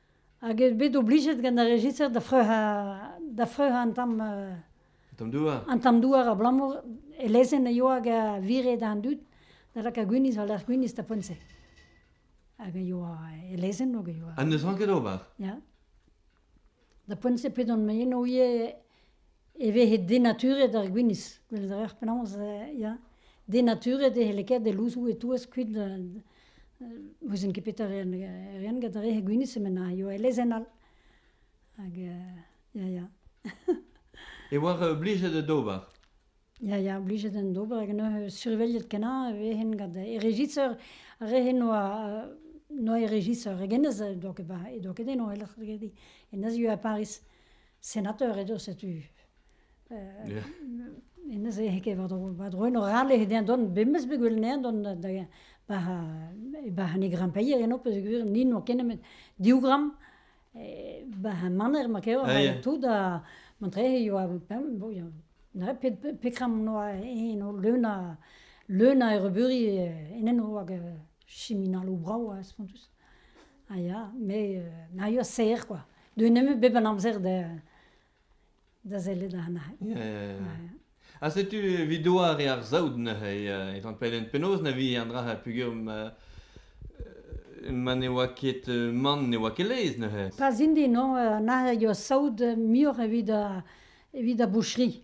hag eo bet oblijet gant ar rejiser da freuzañ da freuzañ an tamm an tamm douar an tamm douar abalamour e lezenn a yoa hag a vire d'an dud da lakaat gwinizh war lerc'h gwinizh da poent-se hag a yoa e lezenn hag a yoa ha n'eus ranket ober ya da poent-se p'edon moaien o ivez e vehe denaturet ar gwinizh. Gweled a rec'h penaos ya denaturet e c'helle ket e louzoù e-touez kuit n'ouzen ket petra reont reont gant ar re gwinizh emaint a yoa e lezenn all. Hag ya ya. E oar blijet d'ober? Ya ya blijet en d'ober hag neuze surveilhet kenañ e vehen gant e rejisor. Ar re noa noa e rejisor hag hennezh e doa ket e doa ket eno e lec'h e Paris. senateur edo setu neuze ket war-dro eno rale dezhañ dont memes bet gwell anezhañ dont da ba ne grampeier eno peogwir ni n'oa ket nemet div gramm ba maner ma kev ha tout ha mantrehe yoa petra noa eno leun a leun a errebeuri en enro hag siminaloù brav ha spontus. A ya, met euh, na eo serr quoi. Deuet nemet bep an amzer da, da sellet ar nac'h. Ya, ya, ya. Ha setu video ar ar saout neuze, euh, etan pelen penaos na vi an dra a pugum euh, ma ne oa ket euh, man ne oa ket lez neuze. Pas indi, non, euh, na eo saout euh, mior evit a, evit a boucherie.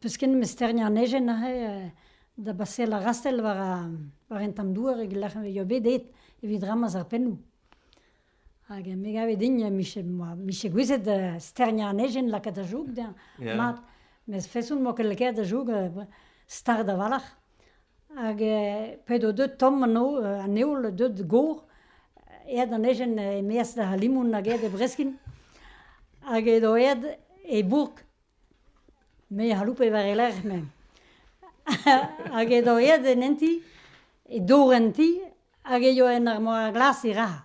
Peus ken mesterniñ an ejen aze da baseal ar rastell war war an tamm douar e-lec'h eo bet aet evit ramaz ar pennoù. Hag me gave din mije gouezet sterniañ an ejen lakaat da joug dezhañ mat. Met feson 'mañ ket lakaet da joug start a-walc'h. Hag p'edo deut tomm anezho, an heol deut gor, aet an ejen e-maez d'ar limoun hag aet e breskin. Hag edo aet e bourk, me a c'haloupe war e lerc'h me. Hag edo aet en hent ti, e dor en ti, hag e yoa en ar mor glas e raha.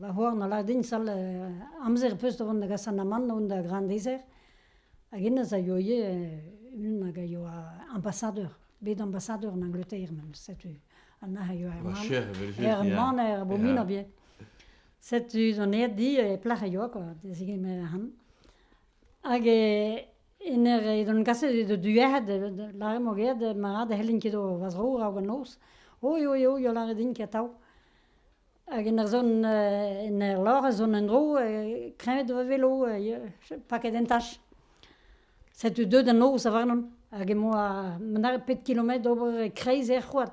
Va c'hoar na lâr din sal amzer az peus da vont da gas an amann da vont da Grandeizer hag hennezh a yoa ivez unan hag a yoa ambassadeur, bet ambassadeur en Angleterre memes, setu an nac'h a yoa er man- cher evel-just, er ya. maner Abominañ bihan. Setu 'zo aet di e plac'h a yoa kwa, da zegemer han. Hag e En er edan kaset eo deut duec'hed da lâret mo ged mat e c'hellin ket va zro a-raok an noz. Oy oy oy o lâret din ket atav. Hag en ur zont en er lor ez on en-dro kreñvet va velo paket en tach. Setu deut an noz a-varnon hag emañ ma nare pet kilometr d'ober e-kreiz er c'hoad.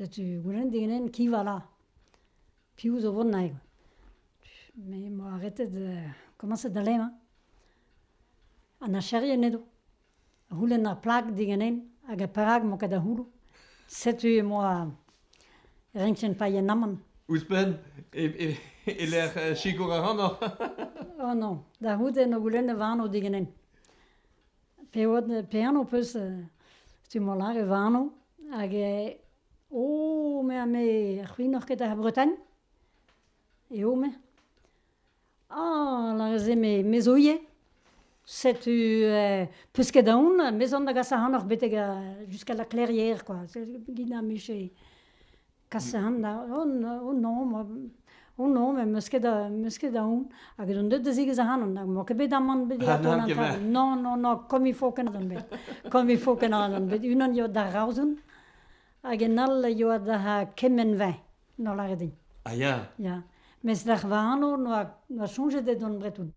Setu goulenn diganen qui va là piv zo 'vont naet me 'moa arretet komañset da lenañ an archerien edo a c'houlenn ar plag diganen hag perak 'mañ ket da c'houloù setu emañ renkien paeañ amann ouzhpenn e-lec'h sikour ac'hanoc'h oh non da c'houde 'noa goulennet va anv diganen Pe oad, pe anv 'peus stummañ lâret va anv hag oh me ha me c'hwinoc'h ket ar Bretagne eo me. Ah lâret-se me me zo ivez. Setu peus ket aon me 'zon da gas ac'hanoc'h betek jusqu'à la clairière kwa, git na 'miche. Kasean on-on me 'meus ket a- 'meus ket aon hag on deuet da zigas ac'hanon hag emañ ket bet aman bet digato an atant. Non, non, non, komm il faut kenañ on bet, komm il faut kenañ on bet. Unan eo da raozen hag en all eo da kemenn-veñ, no lâret din. A ya. Ya, mes d'ar c'hvano noa soñjet eo dont 'breton.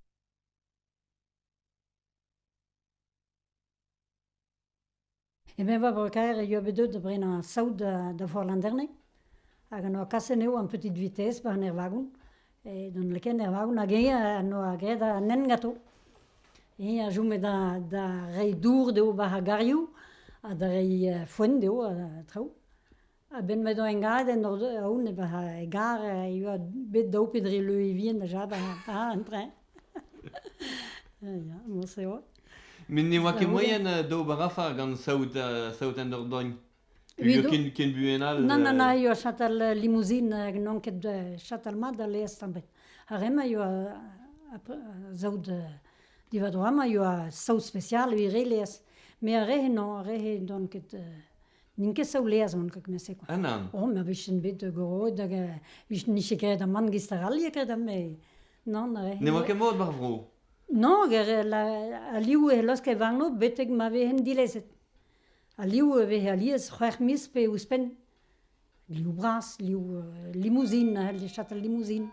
Emeñ 'oa breur-kaer e yoa bet deuet da brenañ saout da Vorlanderne hag en doa kaset anezho en petite vitezh 'ba an ervagon e don lakaet er vagon hag eñ en doa graet an hent ganto. Eñ a chome da reiñ dour dezho 'ba ar garioù ha da reiñ foenn dezho ha traoù. A-benn m'edo engadenn aon egar e oa bet daou pe dri leuevien deja war an treñ. Ya, moarse 'oa. Met ne oa ket moaien d'ober afer gant saout en ur dogn. Ken buan all. Nann, nann, a yoa chatal limouzin hag n'on ket chatal mat da laezh stambet. Ar re-mañ yoa saout divadro amañ yoa saout spesial evit re laezh. Me ar re-se non, ar re-se n'on ket N'in ket savleaz mont gant kement-se quoi. Ah nann. Oh, ma vijen bet goroet hag euh, nije ket graet aman gist arall graet ame. Nann, euh, Ne oa ket mod mar vro. Non, ger la- aliou e losk e varno betek ma vehen dilezet. Aliou e vez alies c'hwec'h miz pe ouzhpenn. Liou bras, liou euh, limouzin, a c'hell chatal limouzin.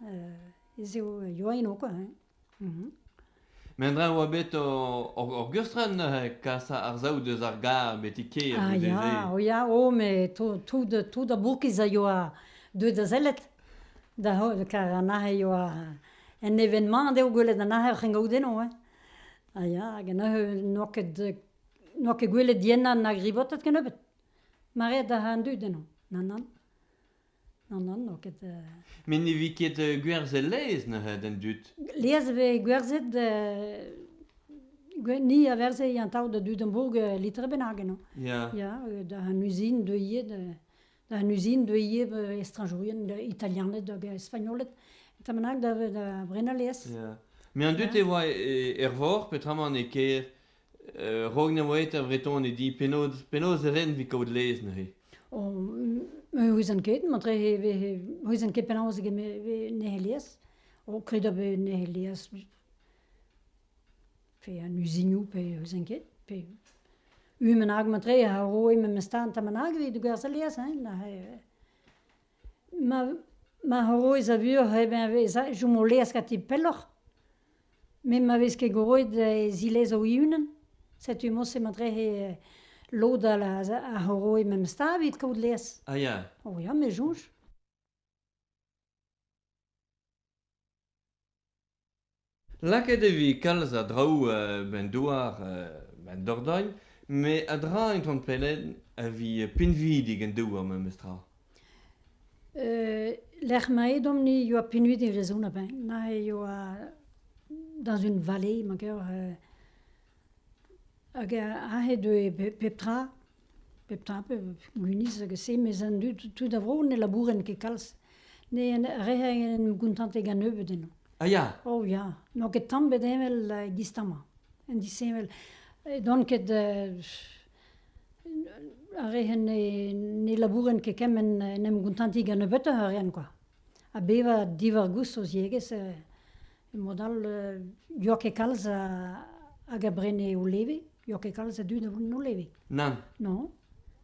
Euh, ez eo yoa eno quoi. hein. Mendra e oa bet ur geustrenn neuze kas ar saout eus ar gar betek-kêr Ah ya, oh ya, oh met tout, tout, tout ar bourkiz a yoa deuet da sellet. Da heul, kar anezhe yoa un evenement dezho gwelet anezhe oc'h en gaout eno hein. Ah ya, hag anezhe n'oa ket n'oa ket gwelet diennañ na grivotet kennebeut. Mareet a ra an dud eno, nann, nann. Nan, nan, n'eo ket... Met ne vi ket gwerzhet laezh neuze d'an dud. Laezh e vez gwerzhet... Ni a verze an tav da Dudenbourg litre bennak eno. Ya. Da an uzin deuilhet... Da an uzin deuilhet estrañjourien italianed hag espagnoled. Eta bennak da brenañ laezh. Ya. Met an dud e oa er vor, petra ma n'eo ket A-raok na oa eta Vretoned i, penaos penaos e ren evit kaout laezh neuze? Ne ouizan ket, matre e vez, ouizan ket penaos e vez neuze laezh. O kredañ eo neuze laezh pe an uzinoù pe ouizan ket. Pe un bennak matre a roe memes tamm tamm bennak evit gwerzhañ laezh hein neuze. ma roez a vuoc'h eo beñ a vez a chom o laezh ganti pelloc'h met ma vez ket roet e zilez o-unan setu morse ma trec'he lod all a roe memes stad evit kaout laezh. O ya. O ya me soñj. Lakaet e vez kalz a draoù ba'n douar ba'n Dordogne met a-dra en ton pellenn a vez pinvidik en douar memestra. lec'h ma edomp-ni e oa pinvidik e vrezhon a-benn. Neuze e oa dans une vallée ma gaver hag aze e deue pep tra. Pep tra, pep gwinizh hag a-se, mes an dud tud a vro ne labourent ket kalz, ne re en em gontante gant nebeut eno. Ah ya? Oh ya, n'on ket tamm bet heñvel e-giz 'ta 'mañ, en disheñvel. N'on ket ar re ne labourent ket kement en em gontantiñ gant nebeutoc'h a reont kwa. Ha bevañ diwar-goust o ziegezh Mod all n'oa ket kalz hag a brene o leve, n'oa ket kalz a dud a voent o leve. Nann. Non,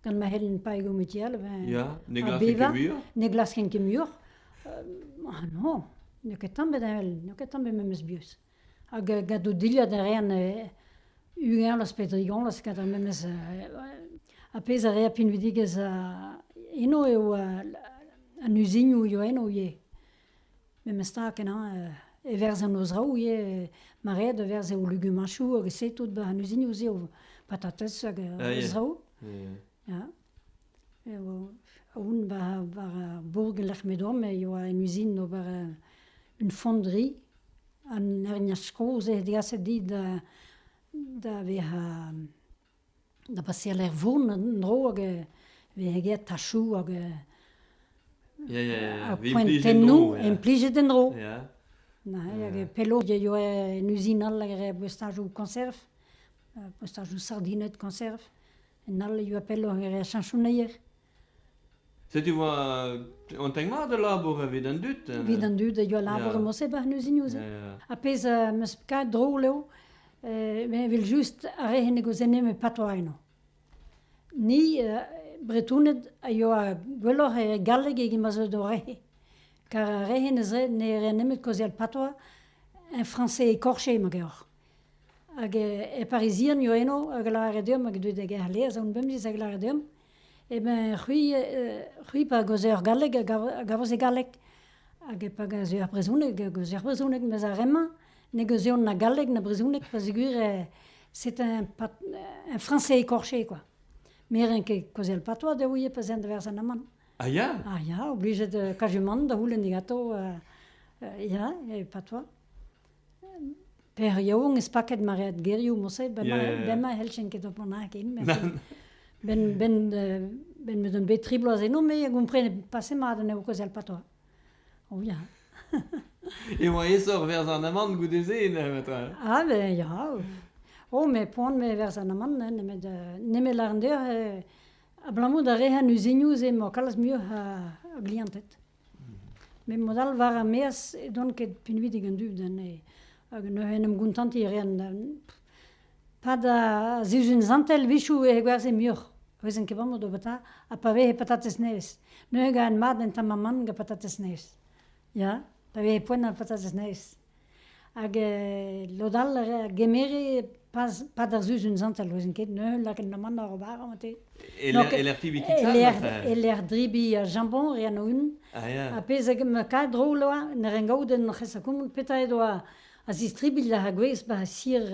gant ma c'hellen paeañ o metial evel... Ya, ne glaskent ket muioc'h? Ne glaskent ket muioc'h. Ah non, n'eo ket tamm bet heñvel, n'eo ket tamm bet memes buhez. Hag gant o dilhad a reant ugañlas pe drigañlas gant ar memes... ar pezh a rea pinvidigezh eno eo an uzinioù eo eno ivez. Memes-ta kenañ e verz an noz-raou ivez, ma red e verz o legumañchoù hag se tout 'ba an uzinoù-se o patatez hag an noz-raou. Ya. Aon war ar bourk e-lec'h m'edom e yoa un uzin d'ober un fondri. An herniaj kozh eo degaset dit da vezañ da baseal er vont en-dro hag e vezañ get tachoù hag Ya, ya, ya, ar vez implijet poentennoù en-dro, ya. implijet en-dro. Ya, hag pellaoù eo en uzin all hag er postajoù koñserv, postajoù sardined koñserv, en all e oa pelloc'h er cheñchoneier. Setu oa an teg mat a labour evit an dud. Evit an dud a yoa labour e Mosse ba n'eus Ha pezh meus kavet drol eo, evel just ar re en deus enem e patoa eno. Ni Bretoned a yoa gwelloc'h e galleg eget ma zeu d'o re. Kar ar re en ez ne rea nemet kaozeal patoa en français écorché ma geoc'h. Hag e Parizian yoa eno hag a lavare deomp hag e deu da gêr Leaz, an bemdez hag a lavare deomp. Eh ben c'hwi eh c'hwi pa gaozer er galleg a gav a gavez e galleg hag e pa gaozer er brezhoneg a gaozer brezhoneg mes ar re-mañ ne gaozern na galleg na brezhoneg pa zegouezh eh c'est un pat un français écorché quoi. Merenn ket kaozel patois da ouie pa 'z aent da werzhañ amann. A ya? A ya, oblijet da kajumant da c'houlenn diganto euh euh ya, e patois. Per yaouank ez paket maread gerioù moset ba ma- bemdez 'c'hellfen ket ober nakin benn benn benn m'eus deuet bet tri bloaz eno me a gomprenet paset mat anezho kozel patois o ya Emañ aesoc'h berzh an amann goude-se neuze ah ben ya oh met poan me berzh an amann nemet nemet lâret deoc'h abalamour da re an uzinioù-se emañ kalz muioc'h a glianted Met mod all war ar maez ne don ket pinvidik an dud anezhe hag neuze en em gontantiñ a reont. Pad ar sizhun santel a-wechoù e gwerzhe muioc'h, ouezen ket amañ daoubata, ha pa veze patatez nevez. Neuze gant mat en tamm amann gant patatez nevez, ya, pa veze poent ar patatez nevez. Hag lod all a gemere pad ar Sizun zantel, 'ouzin ket neuze lakaet amann oc'h ober añ te. E-lec'h pibiñ kitab? E-lec'h drebiñ jambon, re anv-houarn. Ha pezh ma kae drol oa, ne ran gaout en hoc'h esakoumant petra eo doa a zistribilh ar gwez ba sir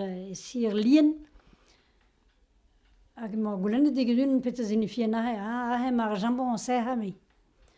Lien. Hag emañ goulennet digant un petra signifie aze, aze emañ ar jambon o sec'hañ me.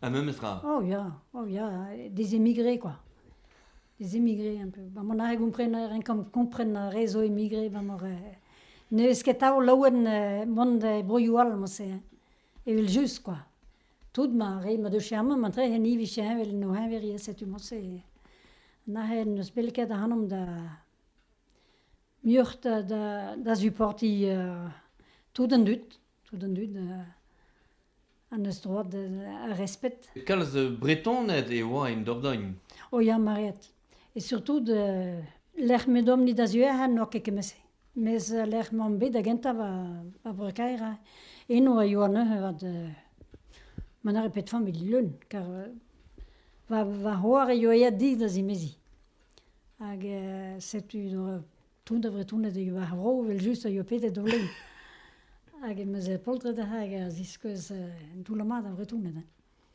Ha memes tra. Oh ya, oh ya, des émigrés quoi. Des émigrés un peu. Ba mon ar re gompren a ren kompren ar re zo émigré, ba mor... Ne eus ket tao laouen eh, mont e broioù all mouse. Evel just quoi. Tout ma re ma deu chermant ma tre hen ivi chermant vel no henverie setu mouse. Nahe n'eus bel ket ahanom da... Mioc'h da, da, da supporti uh, tout an dud. Tout an dud an eus droad ar resped. Kalz Bretoned e oa en Dordogne. O ya, Mariette. Et surtout de lec'h m'edomp ni da zuec'hañ n'oa ket kement-se. Mes lec'h m'omp bet da gentañ ba Bro-Kaer eno a yoa neuze vat ma n'arri ket familh leun kar va c'hoar a yoa aet dit da zimeziñ hag setu Tout a Vretouned e va vro, evel-just, a ioa pedet o lein. Hag em eus poltred hag a ziskouez un toull mat a Vretouned.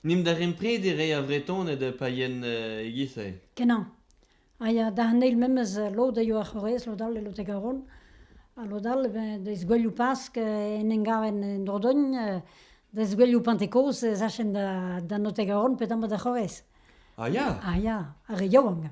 Nimp da rempredi re a Vretoned pa yen eh, e-giz-se. Kenan. A ya da an eil memes lod a ioa c'horrez, lod all e lod e Garonne. Ha lod all, ben, deiz goueliou Pask, en en garen en Dordogn, deiz goueliou Pentekoz, e zachenn da, da note Garonne, petamp da c'horrez. Ah ya? Ah ya, ar re yaouank.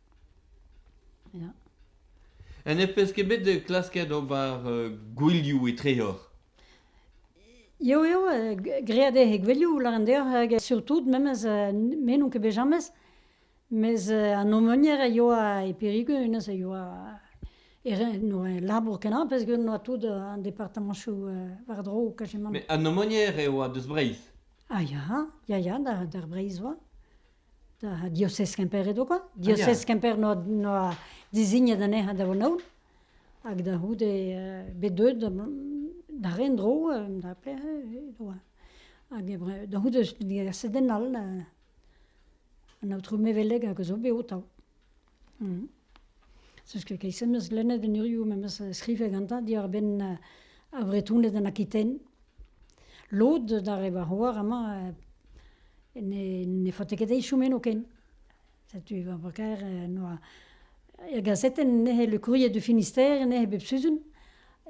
Ha ne peus ket bet klasket ober gouelioù etreoc'h? Jo, jo, graet eo he gouelioù, lâren deoc'h, hag surtout, memes, me n'on ket bet james, mes an omonier a yoa e Périgueux, hennezh a yoa e labour kenañ, peogwir noa tout an departamanchoù war-dro kajemant. Met an omonier e oa deus Breizh? Ah ya, ya, ya, d'ar Breizh oa. da diosez Kemper eo kwa. Diosez Kemper 'noa dizignet anezhañ da Vonaon. Hag da c'houde bet deuet da ren-dro da pelec'h e oa. Hag da c'houde digaset den all, an aotrou Meveleg hag a zo bet o-taou. Mm. Sache que keit-se meus lennet en urioù memes skrivet gantañ diwar-benn uh, ar Vretoned en Aquitaine. Lod d'ar re war oar amañ uh, ne, ne faote ket eichoumen o ken. Setu va brakaer uh, noa er gazeten nehe le courrier du Finistère nehe bep sizun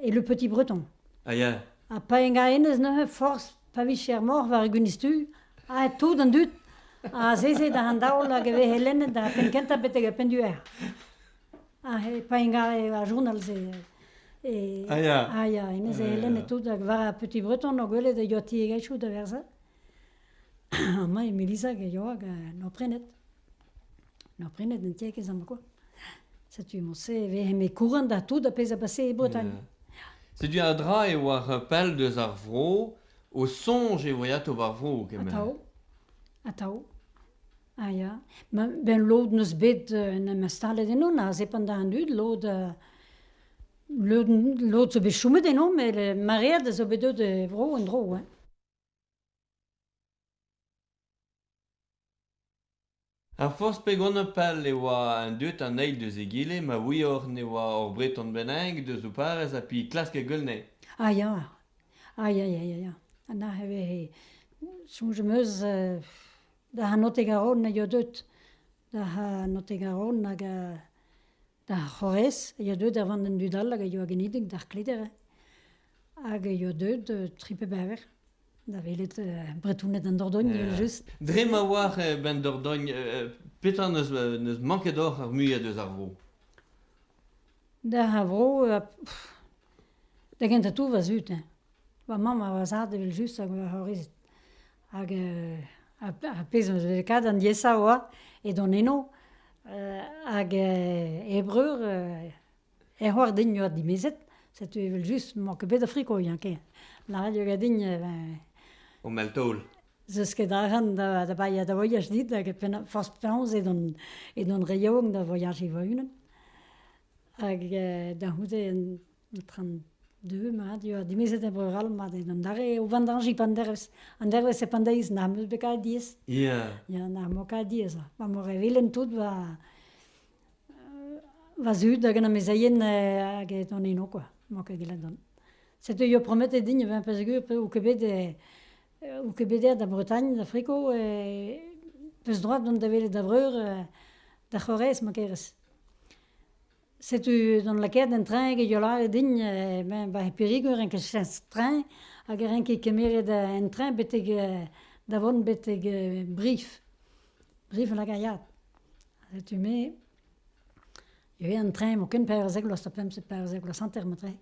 et le Petit Breton. Ah, yeah. Ha pa enga enez neuze, forz pa vicher moc'h war e gwinizh-tu, aet tout an dud azeze da an daol hag e vehe lennet d'ar penn kentañ betek ar penn duaer. Ha pa ingare ar journal-se. E, ah ya. Ah ya, hennezh e lennet tout hag war ar petit breton o gwelet e tiegezhioù da verzh. Amañ Melisa e yoa hag en o prenet. Na prenet an tiegezh ama kwa. Setu emañ-se e vez eme kouren da tout, ar pezh a basse e Bretagne. Setu un dra e oa pell deus ar vro, o soñj e voe atav ar vro kement. Atav, atav. Ah ya. Ben lod neus bet en em installet ennon, aze pendant an dud, lod... lod zo bet chomet ennomp, met maread a zo bet deuet e vro en-dro. Ar forzh pegonañ pal e oa an dud an eil deus egile ma ouioc'h ne oa ur Breton bennak deus ho parrez ha pi klask e geul anezhe. Ah ya, ah ya ya ya ya, anac'h e vehe, soñj am eus da Hannotig-Aron e eo deut, da Hannotig-Aron hag D'ar c'horrez a yoa deuet da vont d'an dud all hag a yoa genidik d'ar Kleder hag a yoa deuet tri pe bevar da welet Bretouned an Dordogne evel-just. Dre ma oar benn Dordogne, petra n'eus n'eus manket oc'h ar muiañ deus ar vro? D'ar vro, da gentañ tout va zud. Va mamm a oa zad evel-just hag va c'horrezed. Hag ar pezh on lakaet an diaesañ oa edon eno hag e breur e c'hoar din yoa dimezet, setu evel-just n'emañ ket bet Afrika o Yañke, lâret yoa din O mell-taol. 'zeus ket arc'hant da baeañ da voyaj dit hag forzh penaos edon re yaouank da voyajiñ va-unan hag da c'houde Tran deu mat eo, dimezet e breur all mat eo. An dare o vendañjiñ pa an dervezh, an dervezh e pandeiz n'am eus bet kavet diaes. Ya. Ya, n'am bo kavet diaes. Ma vo re vilen tout va va zud hag an amezeien hag an heno kwa, emañ ket gellet dont. Setu eo prometet din, e vezañ peogwir eo ket bet eo ket bet aet da Bretagne, da Friko, e peus droad dont da welet da vreur, da c'horez ma kerez. Setu gant lakaet an traeñ eo lâret din ben 'ba Pirigoù e renker cheñch traeñ hag e renker kemeret an traeñ betek da vont betek Brif, Brif Lagariad. Setu me ivez an traeñ emañ ken pevarzek vloaz ha pemzek, pevarzek vloaz hanter emañ traeñ.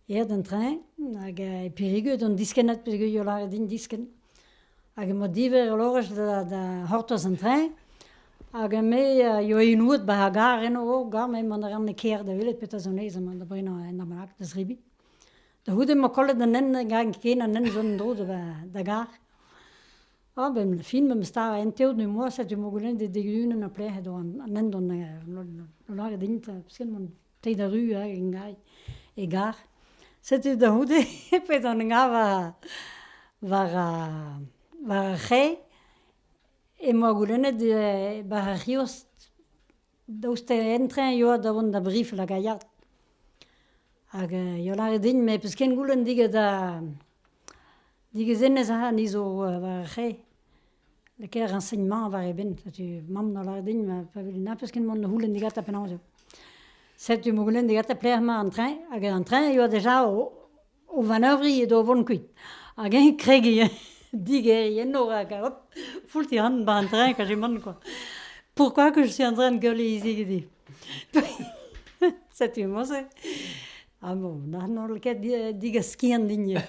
aet an treñ hag e Périgueux d'an diskennad peogwir lâret din diskenn. Hag emañ diverr ur lorez da c'hortoz an treñ hag me a yoa inouet ba ar gar eno oh gar me mont a ran e kêr da welet petra zo 'nes amañ da brenañ un amalak da zebriñ. Da c'houde emañ kollet an hent garen ken an hent zo en-dro da gar. Ah ben e fin memes stad an teod du moa setu emañ goulennet e dek-ugent a-lec'h edo an hent on o lâret din ta piskenn mont. Teit arru a Engai e gar. Setu da c'houde pet an Engai war, war ar, war ar c'hae. Emañ goulennet eh war ar c'hiosk daoust en-treñ eo da vont da brifl hag a ya. Hag eh eo lâret din, met 'peus ken goulenn digant da Digezenez a ra ni zo war ar c'hae, lakaer renseignement war eben. Setu mamm no lâret din ma pa velen nach peus ket mont da c'houlenn digatañ penaos eo. Setu emañ o goulenn digatañ pelec'h emañ an treñ hag an treñ e oa deja o o vanevriñ edo o vont kuit. Hag eñ kregiñ hein, digeriñ enno rak hop foulti ran bar an treñ ka chom on kwa. Pourquoi que je suis en train de gueuler ici goude? Setu emañ-se. Ah bon, n'an holl ket digaskian din eo.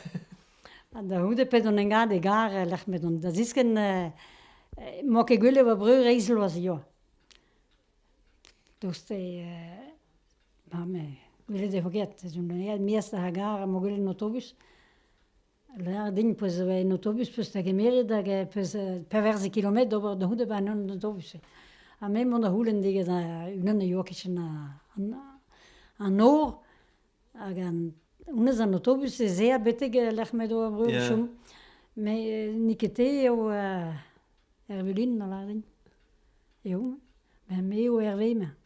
Ha da c'houde pet on engat egar e-lec'h m'edon da ziskenn, m'oa ket gwell e oa breur eizh bloaz eo. Dost eo, ma me, gwelet e vo ket, ez on eget mias ar gar ha m'o gwelet en autobus. Lâr din peus un autobus peus da gemeret hag peus pevarzek kilometr d'ober da c'houde bar an autobus-se. Ha me mont da c'houlenn digant unan a yoa kichen an nor hag honnezh an autobus ez ea betek lec'h m'edo ar breur o chom. Met n'eo ket te eo Ervelin, a lâr din. Eo, me eo Herve-mañ.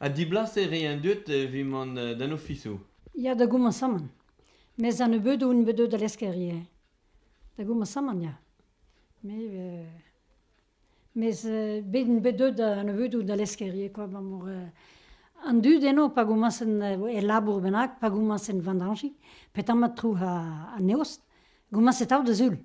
Ha diblaser eo an dud evit mont d'an ofisoù. Ya, da gomañsamant. Mes an nebeudoù int bet deuet da lesker ivez. Da gomañsamant, ya. Me euh, mes euh, bet int bet deuet an nebeudoù da lesker ivez kwa, abalamour euh, an dud eno pa gomañsent e labour bennak, pa gomañsent vendañjiñ, petra mat tro ha an eost, gomañset out da sul.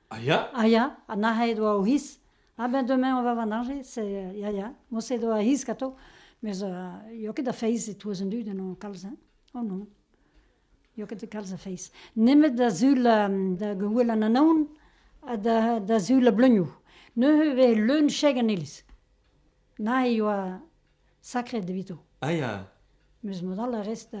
Ah ya? Ah ya, ha nac'het e doa o c'hiz. Ah ben demain on va va najet, c'est ya ya. Mos edo ar c'hiz gato, mes eo ket da feiz e-touez an dud en hon kalz, hein? Oh non, eo ket kalz a feiz. Nemet da zul da gouel an anaon ha da, da zul a bleunioù. Neuze e vez leun cheg an iliz. Na e oa sakret evito. Ah ya? Mes mod all a rez da,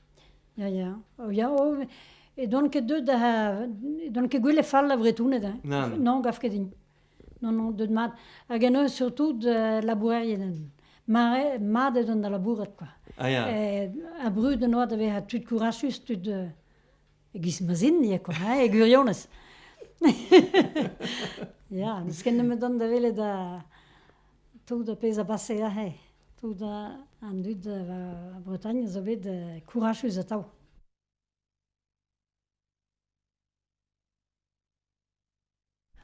Ya, ya. Oh, ya, oh, e doan ket deuet da... E doan ket gwell e fall da Vretouned, hein. Nann. Non, gav ket din. Non, non, deuet mat. Hag en eus surtout labourerien. Mare, mat eo da labourat, quoi. Ah, ya. Ha brud en oa da vezañ tud kourasus, tud... E-giz ma zin, ya, quoi, hein, e gwirionez. Ya, n'eus ket nemet dont da welet da... tout ar pezh a base aze. Tout an dud eus Bretagne zo bet kourasus atav.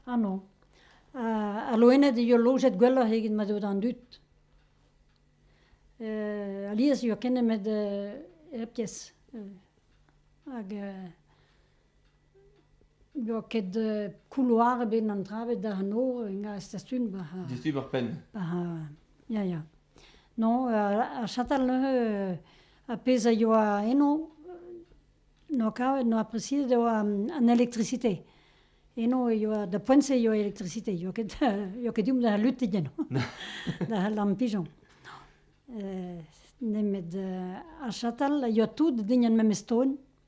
Ah non. Al loened e eo lojet gwelloc'h eget ma eo d'an dud. Alies eo ken nemet hep kezh. Hag N'eo ket kouloar ebet an dra ebet da noz e stasum war... Distruj ar penn. Ya, ya. Non, ar chatal neuze, ar pezh a yoa eno, n'eo kavet, n'eo apresiet e oa an elektrisite. Eno e yoa, da poent-se e yoa elektrisite, yoa ket, yoa ket deomp da lutit eno, da lampijon. Nemet ar chatal a yoa tout dign ar memes ton.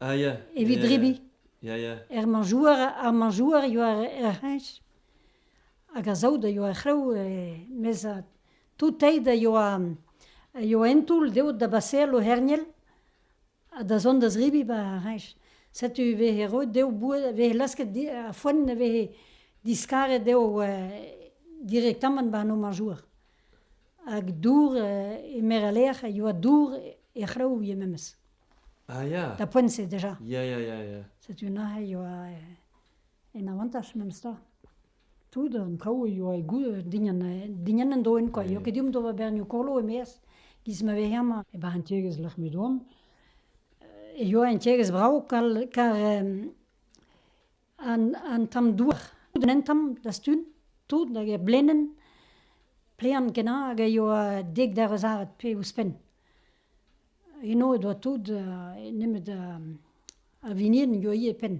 Ah, ya. Evit Ya, ya. drebiñ. Ya, ya. Er manjouer, ar manjouer eo ar, ar c'heñch. Hag a saout a ioa ar c'hrev, eh, mes ah, tout teid a ioa, a ioa en toull deot da baseal o hernel, ha da zont da zrebiñ ba ar c'heñch. Setu e vehe roet dezho boued, a vehe lasket di- ar foenn a vehe diskaret dezho eh, direktamant ba an o manjouer. Hag dour eh, e meur a lec'h a ioa dour e c'hrev ivez memes. Ah ya. Da poent-se deja. Ya, ya, ya, ya. Setu neuze e oa eh, en avantaj memestra. Tout an traoù e oa e dinien, eh, dinien en doen kwa. Jo ket diomp d'ober bernioù kolo e-maez. Giz ma ve hemañ, e bar an tiegezh lec'h me doan. E oa an tiegezh brav kar, kar an, an tamm douar. Tout an tamm da stun, tout hag e blenen, plean kenan hag a yoa dek der eus aret pe ouzhpenn. Eno e doa tout nemet ar vinien a yoa ivez e penn.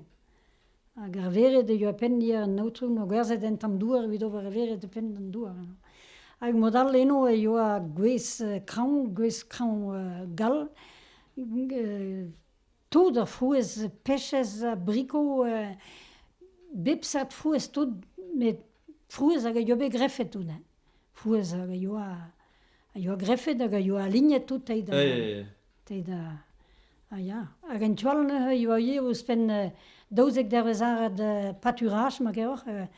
Hag ar vered a yoa e penn ivez an aotrou 'n o gwerzhet en tamm douar evit ober ar vered e penn an douar. Hag mod all eno e yoa gwez-kraoñ, gwez-kraoñ gall, tout ar frouezh pechez ha brikoù bep seurt frouezh tout met frouezh hag a yoa bet grefet hounnezh. frouezh a yoa a yoa grefet hag a yoa lignet tout te da te da a ya hag en tu all neuze e oa ivez ouzhpenn daouzek dervezh arall paturage ma gaoc'h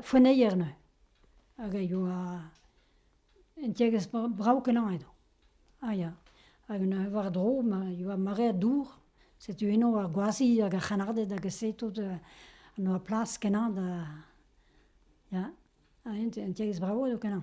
foenneier neuze hag a yoa un tiegezh brav-kenañ edo a ya hag neuze war-dro ma e oa mare dour setu eno ar gwazi hag ar c'hrennarded hag se tout a noa plas kenañ da ya Un tiegezh brav eo kenañ.